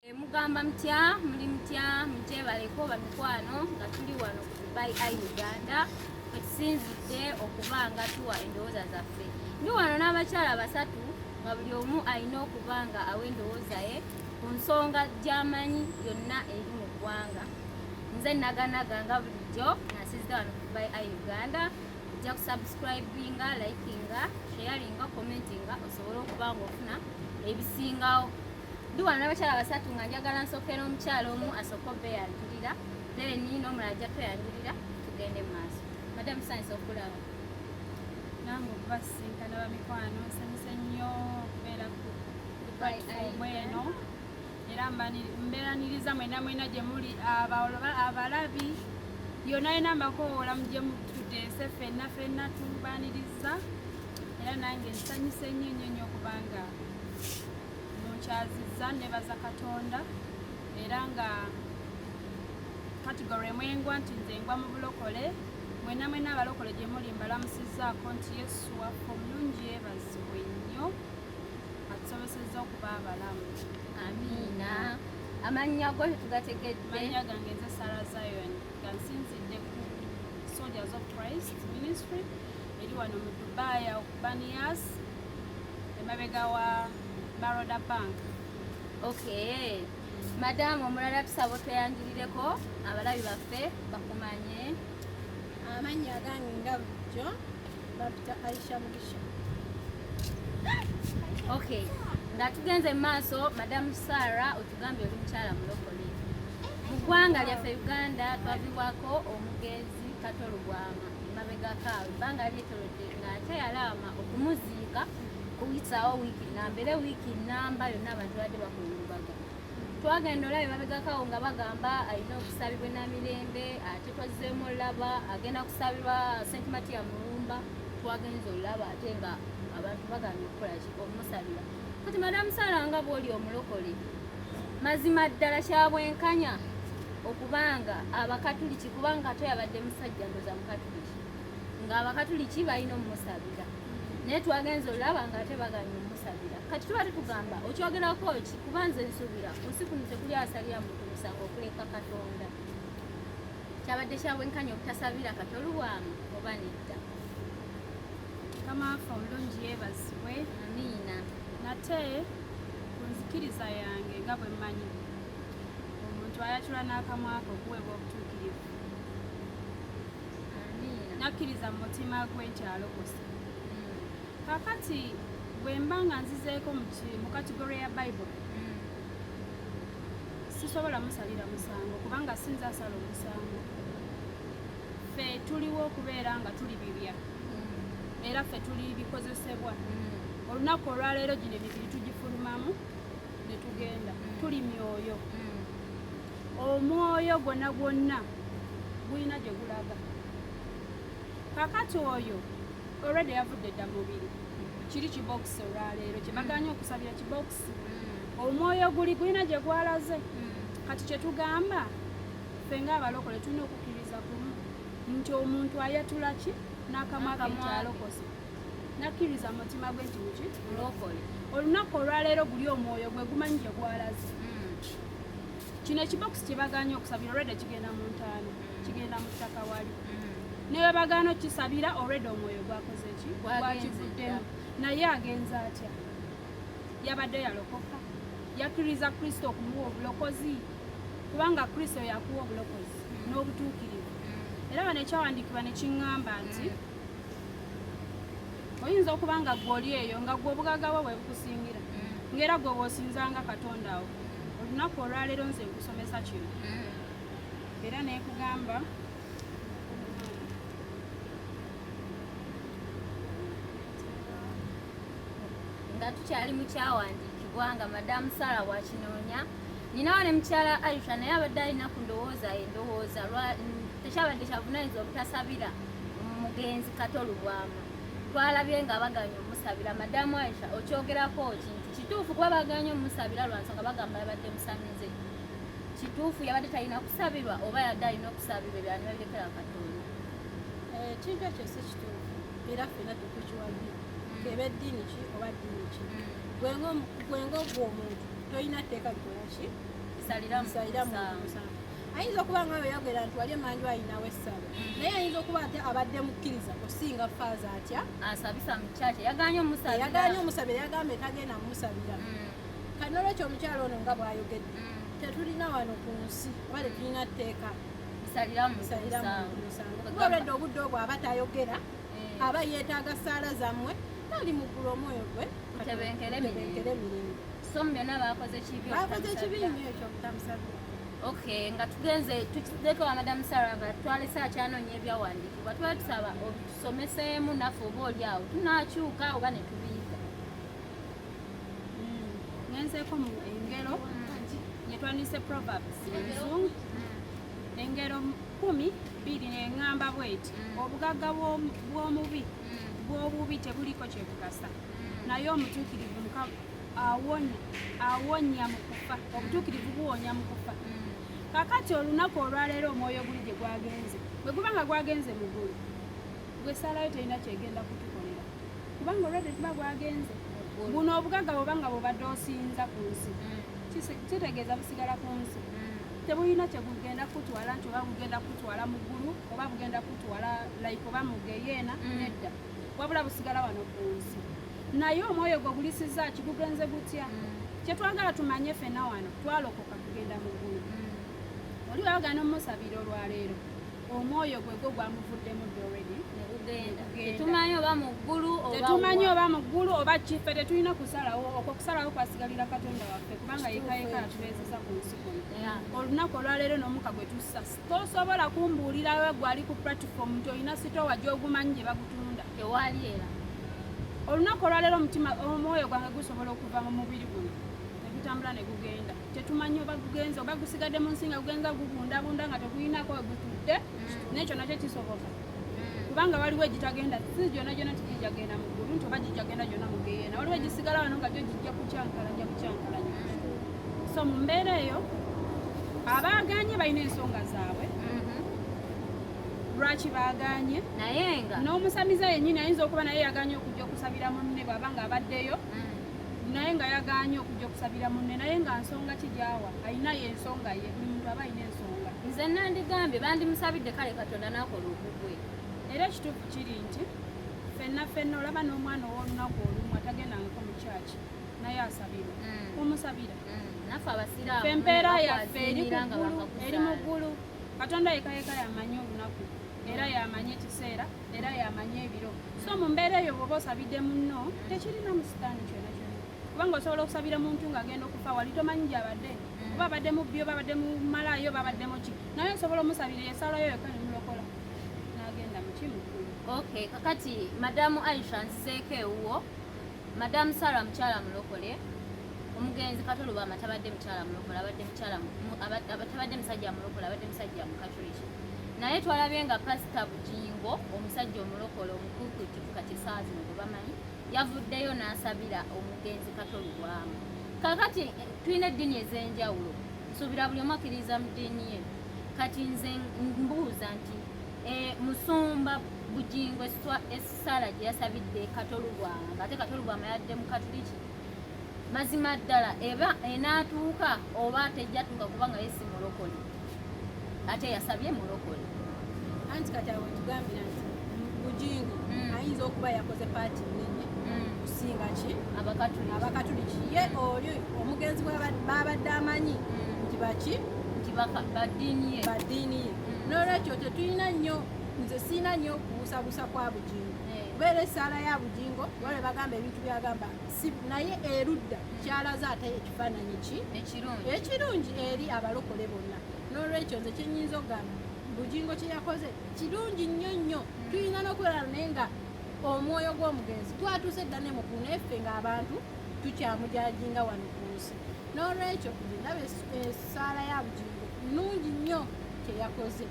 Eh, mugamba mutya muli mutya mugyebaleko bamikwano nga tuli wano ku dubai i uganda kwetusinzidde okuba nga tuwa endowooza zaffe ndi wano n'abakyala basatu nga buli omu alina okuba nga awa endowooza ye ku nsonga gyamanyi yonna eri mu ggwanga nze naganaga nga bulijjo nasiza wano ku dubai i uganda ojja kusubscribinga likinga sharinga commentinga osobole okuba nga ofuna ebisingawo Ndi wano n'abakyala basatu nga njagala nsooke n'omukyala omu asooke obbe yanjulira then n'omulala ajja tweyanjulira tugende mu maaso madam science okulaba nange okuba sisinkana bamikwano nsanyuse nnyo okubeera ku platform eno era mbeeraniriza mwena mwena gye muli abalabi yona yona mbakowoola mu gye mutudde se fenna fenna tubaniriza era nange nsanyuse nnyo nnyo nnyo kubanga nkyaziza nebaza katonda era nga katigoro emwengwa nti nze ngwa mu bulokole mwena mwena abalokole gye muli mbalamusizaako nti yesu waffe omulungi yebazibwe nnyo atusobosezza okuba abalamu amiina amannya go tetugategedde mannya gange nze sara zion nga nsinzidde ku soldiers of christ ministry eri wano mu dubai awo ku banias emabega wa baroda bank okay madamu omulala tusaba otweyanjulireko abalabi baffe bakumanye amannya agange nga bulijjo babita aisha mugisha okay nga tugenze mu maaso madamu sara otugambye oli mukyala mulokole mu ggwanga lyaffe uganda twavibwako omugezi katolugwama emabegakaawe ebbanga lyetolodde ate yalaama okumuziika kuyisaawo wiiki nnamba era wiiki nnamba yonna abantu badde bakungubaga twagenda olabye babegakawo nga bagamba alina okusabibwa namirembe ate twazzeemu olaba agenda kusabirwa senti matiya mulumba twagenza olaba ate nga abantu bagambye okukolaki okumusabira kati madamu sala nga bwoli omulokole mazima ddala kyabwenkanya okubanga abakatuliki kubanga ate yabadde musajja ndoza mukatuliki ng'abakatuliki balina omumusabira naye twagenza olaba nga ate baganye omusabira kati tuba tetugamba okyogerako ki kuba nze nsubira kunsi kuno tekuli asalira muntu musango okuleka katonda kyabadde kyabwenkanya obutasabira kati olubwamu oba nedda kamaafa omulungi yebazibwe amiina nate ku nzikiriza yange nga bwe mmanyi omuntu ayatula n'akamwaka okuweebwa obutuukirivu nakkiriza mu mutima gwe nti alokose kakati bwe mba nga nzizeeko mu kategori ya bayibuli sisobola musalira musango kubanga sinza asala omusango ffe tuliwo okubeera nga tuli bibya mm. era ffe tuli bikozesebwa mm. olunaku olwaleero gino emibiri tugifulumamu ne tugenda mm. tuli myoyo mm. omwoyo gwonna gwonna gulina gye gulaga kakati oyo olwedde yavudde dda mubiri kiri kibokisi olwaleero kyebaganya mm. okusabira kibokisi omwoyo guli gulina gye gwalaze kati kyetugamba ffe ngaabalokole tulina okukkiriza kumu nti omuntu ayatula ki n'akamwa ke nti alokose nakkiriza mutima gwe nti muki mulokole olunaku olwaleero guli omwoyo gwe gumanyi gye gwalaze hmm. kino ekibokisi kyebaganye okusabira olweda kigenda mu ntaano hmm. kigenda mu ttaka wali hmm. newe bagana okukisabira olweda omwoyo gwakoze ki gwakivuddemu naye agenza atya yabadde yalokoka yakkiriza kristo okumuwa obulokozi kubanga kristo yakuwa obulokozi n'obutuukirivu era bano ekyawandiikibwa nekiŋŋamba nti oyinza okuba nga gwe oli eyo nga gwe obugaga bwo bwe bukusingira mm. ngaera gwe bwosinzanga katonda awo olunaku olwaleero nze nkusomesa kino mm. era nekugamba nga tukyali mukyawandiikibwa nga madamu sala wakinoonya ninawo ne mukyala aisha naye abadde alina ku ndowooza endowooza tekyabadde kyavunanyizibwa obutasabira omugenzi kato lubwama twalabye nga baganye omusabira madamu aisha okyogerako ki nti kituufu kuba baganye omusabira lwansonga bagamba yabadde musamize kituufu yabadde talina kusabirwa oba yadde alina okusabirwa ebyani babirekera katonda eh, ekintu ekyo si kituufu era fena tukukiwagi mm. keba eddiini ki oba ddiini ki mm. gwenga ogwo omuntu tolina tteeka likolaki salira musango ayinza okuba nga oyo yagera nti wali emanju ayinawo essabo naye ayinza okuba ate abadde mukkiriza kusinga faaza atya asabisa mukyaki yaganye omusabirayaganye omusabira yagamba etagenda mumusabira mm. kati nolwekyo omukyalo ono nga bwayogedde mm. tetulina wano ku nsi oba tetulina tteeka musaliramusaliramuolwedde obudde obwo aba tayogera eh. aba yeetaaga saala zammwe tali muggulu omwoyo gwe tebenkere mirembe so mu byonna bakoze kibi bakoze kibi nyo ekyo obutamusabira Okay, nga tugenze tukizeko wa Madam Sarah nga twalese akyanoonya ebyawandiikibwa tuba tusaba otusomeseemu naffe oba oli awo tunaakyuka oba ne tubiyiga hmm, ngenzeeko mu engero yetwanise hmm. proverbs enzungu hmm. engero kumi bbiri neŋŋamba bweti obugagga bw'omubi bw'obubi tebuliko kyebugasa naye omutuukirivu awonya awonya mu kufa obutuukirivu buwonya mu kufa mm. kakati olunaku olwaleero omwoyo guli gye gwagenze bwe guba nga gwagenze mu gulu gwe salayo terina kyegenda kutukolera kubanga olwedde tuba gwagenze buno obugaga bwoba nga bwobadde osinza ku nsi mm. kitegeeza busigala ku nsi mm. tebulina kyegugenda kutwala nti oba bugenda kutwala mu ggulu oba bugenda kutwala like oba mugeyeena mm. nedda wabula busigala wano ku nsi naye omwoyo gwe ogulisiza ki gugenze gutya mm. kyetwagala tumanye fena wano twalokoka kugenda mu ggulu mm. oli wayogana omumusabira olwaleero omwoyo gwe gwo gwamuvuddemu doredi tetumanyi oba mu ggulu tetumanyi oba mu ggulu oba kife tetulina kusalawo okwo kusalawo kwasigalira katonda waffe kubanga yekayeka atubeezeza ku nsi kuno olunaku olwaleero n'omuka gwe tussa tosobola kumbuulira we gwali ku platform nti olina sitowa gyogumanyi gye bagutunda ewaali era olunaku olwaleero omutima omwoyo gwange gusobola okuva mu mubiri guno negutambula ne gugenda tetumanyi oba gugenza oba gusigadde mu nsi nga gugenza gubundabunda nga tegulinako we gutudde mm. nekyo nakyo kisoboka kubanga waliwo egitagenda si gyona gyona nti gijagenda mu ggulu nti oba gijagenda gyona mu geyeena waliwo egisigala wano nga gyo gijja kukyankalanya bukyankalanya so mu mbeera eyo abaaganye balina ensonga zaabwe lwaki baaganye naye nga n'omusamiza yennyini ayinza okuba naye yaganye okujja okusabira munne bwaba nga abaddeyo mm. naye nga yaganye okujja okusabira munne naye nga nsonga ki gyawa alinayo ensonga ye buli muntu aba alina nsonga nze nandigambye bandimusabidde kale katonda nakola ogugwe era ekituufu kiri nti fenna fenna olaba n'omwana ow'olunaku olumu atagendangako mu kyaki naye asabira mm. omusabira mm. fe empeera yaffe eri kuggulu eri mu ggulu katonda yekayeka yamanyi olunaku era yamanyi ekiseera era yamanyi ebiro so mu mbeera eyo bwoba osabidde munno tekirina musitaani kyona kubanga osobola okusabira muntu nga agenda okufa wali tomanyi gyabadde mm. oba abadde mubbi oba abadde mumalayo oba abadde muki naye osobola omusabira esalayo yoka nemulokola nagenda mukimu ok kakati madamu aisha nzizeeko ewuwo madamu sara mukyala mulokole omugenzi katolubama tabadde mukyala mulokole abadde mukyala tabadde musajja mulokole abadde musajja mukatuliki naye twalabye nga pasita bujingo omusajja omulokole omukukutuku kati saazi mugobamanyi yavuddeyo n'asabira omugenzi Kato Lubwama. Kakati tulina eddiini ez'enjawulo, nsuubira buli omu akkiririza mu ddiini ye. Kati nze mbuuza nti e, musumba Bugingo essaala gye yasabidde Kato Lubwama ng'ate Kato Lubwama yadde mu Katuliki, mazima ddala eba enaatuuka oba tejjatuuka kubanga ye si mulokole. ate yasabye mulokole anti kati awo tugambira nti bujingo mm. ayinza okuba yakoze paati nene mm. kusinga ki abakatuliki ye oli omugenzi babadde amanyi mm. nti baki nti badiini ye n'olwekyo tetulina nnyo nze siina nnyo kubusabusa kwa bujingo eh. kubeera esaala ya bujingo wale bagamba ebintu byagamba nti naye erudda kyalaze ate ekifaananyi ki ekirungi eri abalokole bonna n'olwekyo nze kyenyinza okugamba bugingo kyeyakoze kirungi nnyo nnyo hmm. tulina n'okubeera naye nga omwoyo gw'omugenzi twatuuse dda ne mukulu naye ffe ng'abantu tukyamujajinga wano ku nsi n'olwekyo ndaba essaala ya bugingo nnungi nnyo kyeyakoze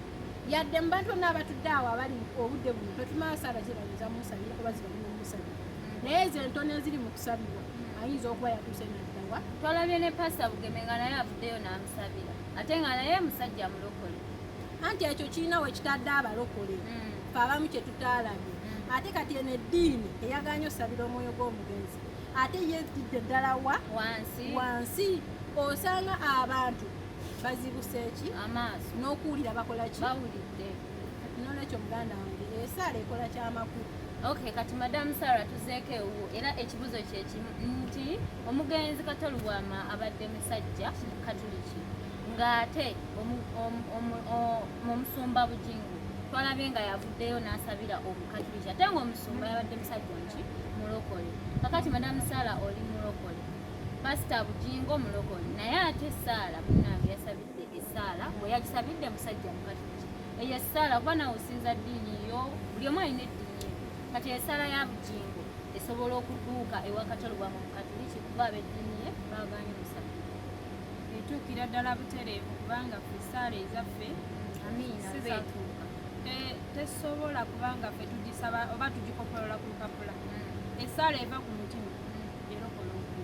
yadde mu bantu bonna abatudde awo abali obudde buno totumala saala zirabiza musabira kuba zirabiza musabira naye ezo entono eziri mu kusabirwa ayinza okuba yatuuse naddawa twalabye ne pasita bugeme nga naye avuddeyo n'amusabira ate nga naye musajja mulokole anti ekyo kirina we kitadde abalokole hmm. fe abamu kye tutaalabye hmm. ate kati eno eddiini eyaganye osabira omwoyo gw'omugenzi ate yetidde ddala wa wansi wansi osanga abantu bazibuse ki amaaso n'okuwulira bakola ki bawulidde nolwekyo muganda wange esaala ekola kyamakulu ok kati madamu sara tuzeeko ewuwo era ekibuzo kyekimu nti omugenzi katolubwama abadde musajja katuliki ng'ate omusumba bujingu twalabye nga yavuddeyo n'asabira omukatuliki ate ngaomusumba yabadde musajja nki mulokole kakati madamu sara oli mulokole pasita bujingo mulokole naye ate saala munange yasabidde esaala bwe yagisabidde musajja mukatuliki eyo essaala kuba nawe osinza ddiini yo buli omu alina eddiini kati essaala ya bujingo esobola okutuuka ewakatolo bwa mukatuliki kuba abeddiini ye baaganye musatu etuukira ddala butereevu kubanga fe essaala ezaffe sizetuuka tesobola kubanga fe tugisaba oba tugikopolola ku lupapula hmm. essaala eva ku mutima hmm. erokola omuntu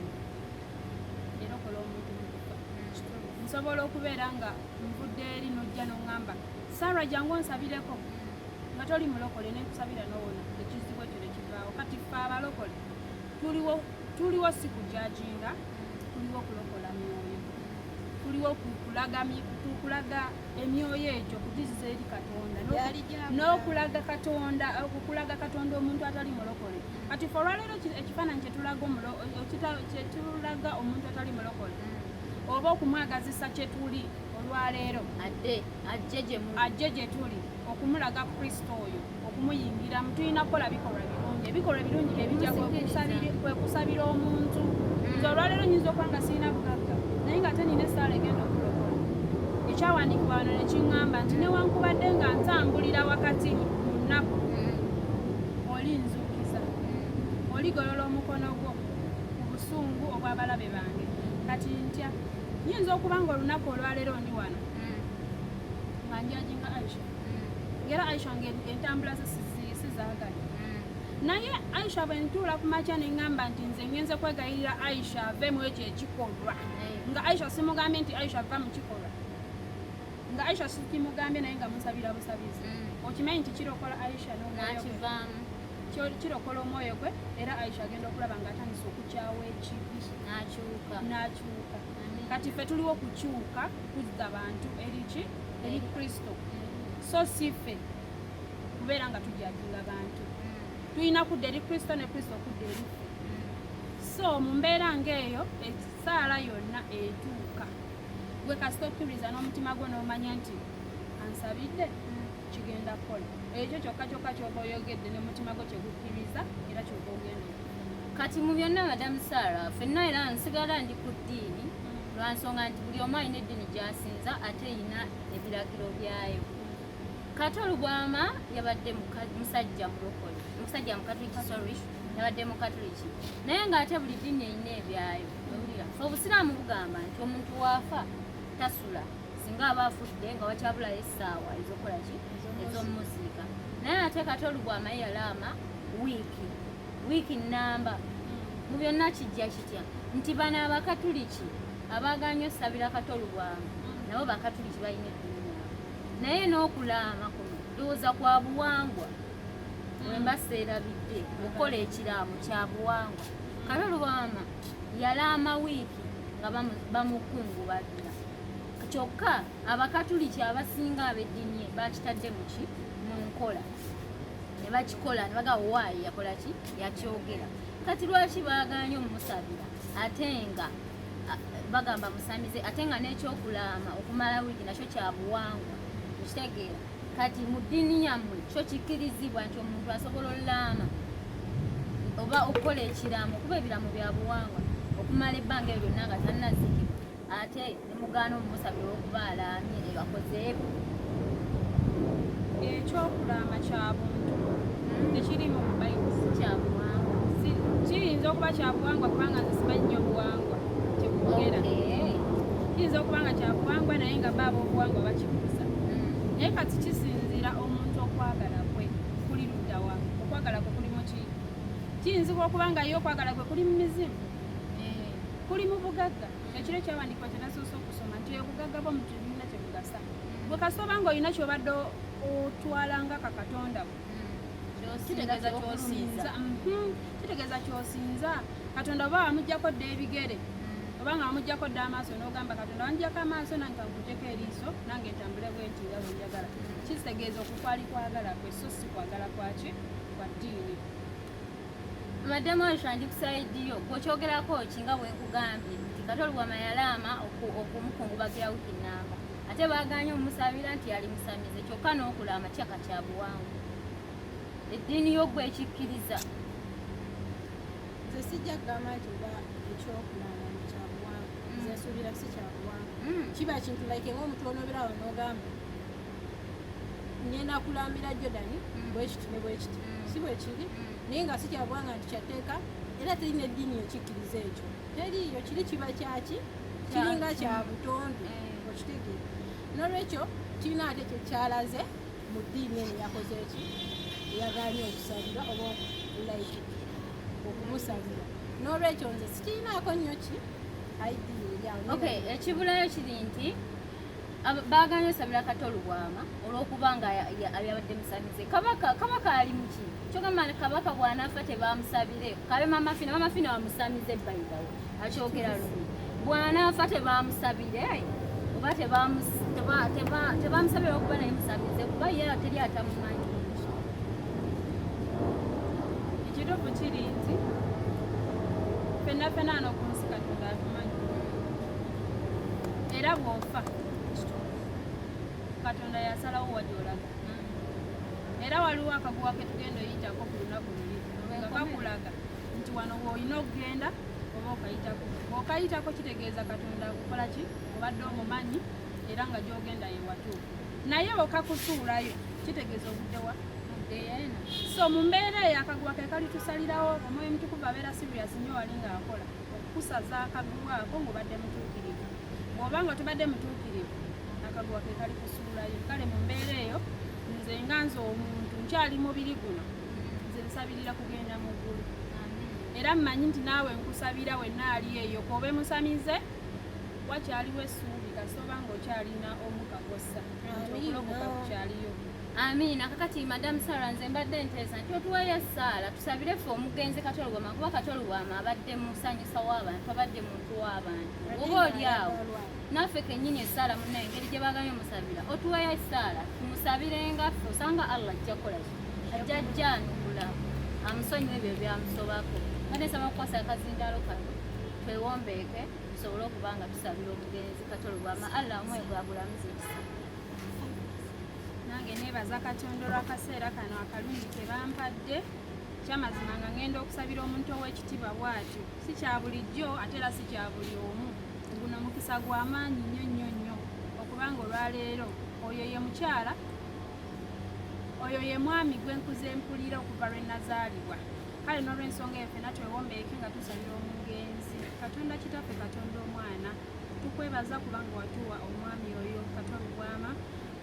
erokola omuntu hmm. nsobola okubeera nga nvudde eri nojja noŋŋamba sara jangu onsabireko nga toli mulokole nenkusabira nowona ekizibu ekyo nekivaawo kati fe abalokole tuliwo tuliwo si kujajinga tuliwo kulokola myoyo tuliwo kukulaga emyoyo egyo kugiziza eri katonda n'okulaga katonda okukulaga katonda omuntu atali mulokole kati fe olwaleero ekifaananyi kyetulaga omuntu atali mulokole oba okumwagazisa kye tuli olwaleero ajje gye tuli okumulaga kristo oyo okumuyingiramu tulina kukola bikolwa birungi ebikolwa ebirungi byebija kwekusabira omuntu mm. nze olwaleero nyinza okuba nga sirina bugagga naye nga ate nina esaala egenda okulokola ekyawandiikibwa wano nekiŋŋamba nti newankubadde nga ntambulira wakati mu nnaku mm. olinzuukiza mm. oligolola omukono gwo obusungu obw'abalabe bange kati ntya nyinza okuba nga olunaku olwaleero ndi wano mm. nga njajinga aisha mm. ngera aisha nga entambula ze sizaagala mm. naye aisha bwe ntuula ku makya ne ŋŋamba nti nze ngenze kwegayirira aisha ave mu ekyo ekikolwa nga aisha simugambye nti aisha ava mu kikolwa nga aisha sikimugambye naye nga musabira busabizi okimanyi nti kirokola aisha nokivaamu kirokola omwoyo gwe era aisha agenda okulaba nga atandise okukyawa ekibi nakyuka nakyuka kati ffe tuliwo kukyuka kuzza bantu eriki eri kristo so si ffe kubeera nga tujajinga bantu mm. tulina kudda eri kristo ne kristo okudda eri ffe mm. so mu mbeera ngaeyo ekisaala yonna etuuka gwe kasita okkiriza n'omutima gwo n'omanya nti ansabidde mm. kigenda kukola ekyo kyokka kyokka kyoba oyogedde ne mutima gwo kyegukkiriza era kyoba ogenda kati mu byonna madamu sara fenna era nsigala ndi ku ddiini lwa nsonga nti buli omu alina eddiini gyasinza ate erina ebiragiro byayo kati olugwama yabadde musajja mulokole musajja mukatuliki sorry yabadde mukatuliki naye ng'ate buli ddiini erina ebyayo obusiraamu bugamba nti omuntu waafa tasula singa aba afudde nga wakyabulayo essaawa ezokukola ki ezomumuziika naye ate kati olubwamaye yalaama wiiki wiiki nnamba mu byonna kijja kitya nti bano abakatuliki abaaganya osabira kato olubwamu nabo bakatuliki balina eddiini naye n'okulaama kuno ndowooza kwa buwangwa wemba seerabidde okukola ekiraamo kya buwangwa kale olubwama yalaama wiiki nga bamukungubagira kyokka abakatuliki abasinga ab'eddiini bakitadde muki mu nkola ne bakikola ne baga waayi yakola ki yakyogera kati lwaki baagaanye omusabira ate nga bagamba musamize ate nga n'ekyokulaama okumala wiiki nakyo kyabuwangwa ekitegeera kati mu ddiini yammwe kyo kikkirizibwa nti omuntu asobola olaama oba okukola ekiraamo kuba ebiraamo byabuwangwa okumala ebbanga ebyo lyonna nga tannaziikibwa ate ne mugaana omumusabira okuba alaamye ne bakozeeko ekyokulaama kya buntu hmm. tekiri mu bayibuli kyabuwangwa kiyinza okuba kyabuwangwa kubanga nze simanyi nyo obuwangwa kyekugera kiyinza okuba nga kyabuwangwa naye nga baaba obuwangwa bakibuusa hmm. naye kati kisinziira omuntu okwagala kwe kuli luddawa okwagala kwe kuli muki kiyinzibwa okuba nga ye okwagala kwe kuli mu mizimu kuli mu bugagga ekiro kyawandiikibwa kyenasoose okusoma nti obugagga bwo muntu ebirina kyebugasa bwe kasita obanga olina kyobadde otwala nga kakatonda bwe kitegeeza kyosinza mhm. katonda oba wamugjako dda ebigere mm. obanga wamugjako dda amaaso nogamba katonda wanjako amaaso nange kankujeko eriiso nange ntambule bwenti nga wenjagala mm. kitegeeza okukwali kwagala kwe so si kwagala kwaki kwa ddiini madam Aisha ndi kusayidi yo gwokyogerako ki nga bwenkugambye nti katoli wama yalaama okumukungubagira wiki namba ate baganye omusabira nti yali musamize kyokka n'okulaama kyaka kya buwangu eddiini yo gwe ekikkiriza nze sijja kugamba nti oba ekyokulaama kyabuwangu mm. nze nsuubira si kyabuwangu mm. kiba kintu like ng'omuntu onooberawo n'ogamba ngenda kulambira jordan mm. bwekiti ne bwekiti mm. si bwekiri mm. naye nga sikyagwanga nti kyatteeka era teri neddiini ekikkiriza ekyo teriiyo kiri kiba kyaki kiringa kya butonde eh. okitegeera nolwekyo kirina ate kyekyalaze mu ddiini eno yakoze eki eyagaanye okusabira oba like okumusabira nolwekyo nze sikirinaako nnyo ki aidini eryawo ekibulayo kiri nti baaganye osabira kato lubwama olwokuba nga yabadde musabize kabaka kabaka ali muki kyogamba kabaka bwanafa tebamusabire kabe mama fina mama fina wamusamize baidawo akyogera lumu bwanafa tebamusabire oba tebamusabire okuba naye musabize kuba ye teri atamumanyi ekituufu kiri nti fenna fenna anokumusika tulabimanyi era bw'ofa katonda yasalawo wajolaga era waliwo akaguwa ke tugenda oyitako ku lunaku luli nga kakulaga nti wano woolina okugenda oba okayitako okayitako kitegeeza katonda akukola ki obadde omumanyi era nga gyogenda yewatuufu naye okakusuulayo kitegeeza obuddewa so mu mbeera eyo akaguwa ke kalitusalirawo omwoyo mutukuvu abeera sirias nyo wali ngaakola kusaza akaguwa ako ng'obadde mutuukirivu bw'oba nga tubadde mutuukirivu akaguwa ke kali kusuulayo kale mu mbeera eyo nze nga nze omuntu nkyali mubiri guno nze nsabirira kugenda mu ggulu era mmanyi nti naawe nkusabira wenna ali eyo koobe musamize wakyaliwo essuubi kasita oba ng'okyalina omukakossa okulokoka kukyaliyo Amiina. Kakati Madam Sarah nze mbadde nteesa nti otuweeyo essaala tusabire ffe omugenzi Katolugwama kuba Katolugwama abadde musanyusa w'abantu abadde muntu w'abantu oba oli awo naffe kennyini essaala munna engeri gye baagambye musabira otuweeyo essaala tumusabire nga ffe osanga Allah ajja kukola ki ajja ajjanukula amusonyiwa ebyo byamusobako mbadde nsaba kukwasa akazindalo kano twewombeeke tusobole okuba nga tusabira omugenzi Katolugwama Allah omwe gwagulamuza ekisa nange nebaza katonda olwakaseera kano akalungi kebampadde kyamazima nga ngenda okusabira omuntu owekitiibwa bwatyo si kya bulijjo ate era si kya buli omu guno mukisa gwa maanyi nnyo nnyo nnyo okubanga olwaleero oyo ye mukyala oyo ye mwami gwe nkuze mpulira okuva lwe nazaalibwa kale n'olwensonga eyo fena twewombeeke nga tusabira omugenzi katonda kitaffe katonda omwana tukwebaza kubanga watuwa omwami oyo katon bwama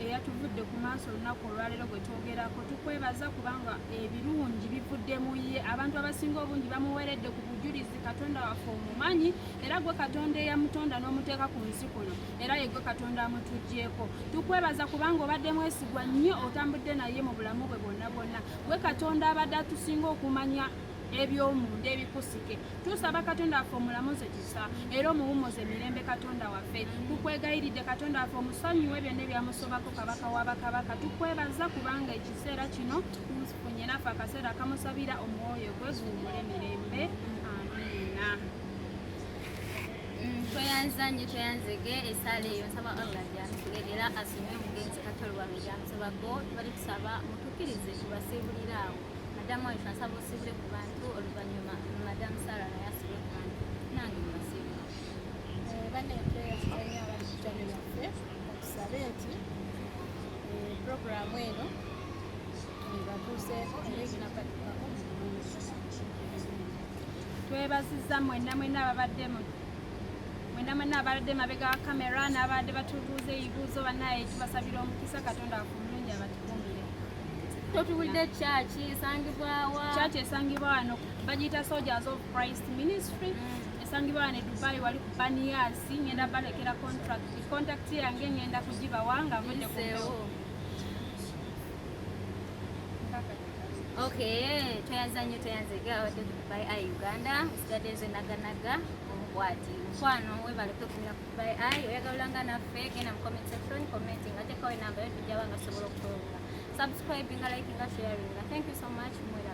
eyatuvudde ku maaso olunaku olwaleero gwe twogerako tukwebaza kubanga ebirungi bivudde mu ye abantu abasinga obungi bamuweredde ku bujulizi katonda waffe omumanyi era gwe katonda eyamutonda n'omuteeka ku nsi kuno era yegwe katonda amutugyeko tukwebaza kubanga obadde mwesigwa nnyo otambudde naye mu bulamu bwe bwonna bwonna gwe katonda abadde atusinga okumanya eby'omunda ebikusike tusaba katonda waffe omulamuze kisa era omuwummuze mirembe katonda waffe tukwegayiridde katonda waffe omusonyiwe byonna ebyamusobako kabaka wa bakabaka tukwebaza kubanga ekiseera kino tufunye naffe akaseera akamusabira omwoyo gwe guwumule mirembe amiina mm, tweyanza nyo tweyanzege esaala eyo nsaba allah gyatule era asome omugenzi katoli wange gyamusobako tubali tusaba mutukirize tubasiibuliraawo madamu wange nsaba osibule ku bantu oluvannyuma madamu sara naye asibule ku bantu nange mbasibe eh, banneeteyakitanyo abakitani baffe okusabe nti eh, puroguramu eno ebatuuseeko era eginabatukako twebaziza mwenna mwenna ababadde mwena mwena ababadde mabega wa kamera n'abadde batubuuza ebibuuzo banaye tubasabira omukisa katonda wakumulungi abatukumbire totubulidde kyaki esangibwawa kyaki esangibwa wano bagiyita soldiers of christ ministry mm. esangibwa wano edubai wali ku baniyasi ngenda balekera contract contact yange ngenda kugibawa nga mudde kubewo Okay, tweyanza nnyo tweyanza egawadde dubai a uganda nsigadde nze naganaga obwati mukwano webale kutukumira ku by i oyagala olanga naffe genda mu comment section commenting ate kawe namba yo tujja banga sobola okutunga subscribing liking sharing thank you so much mwera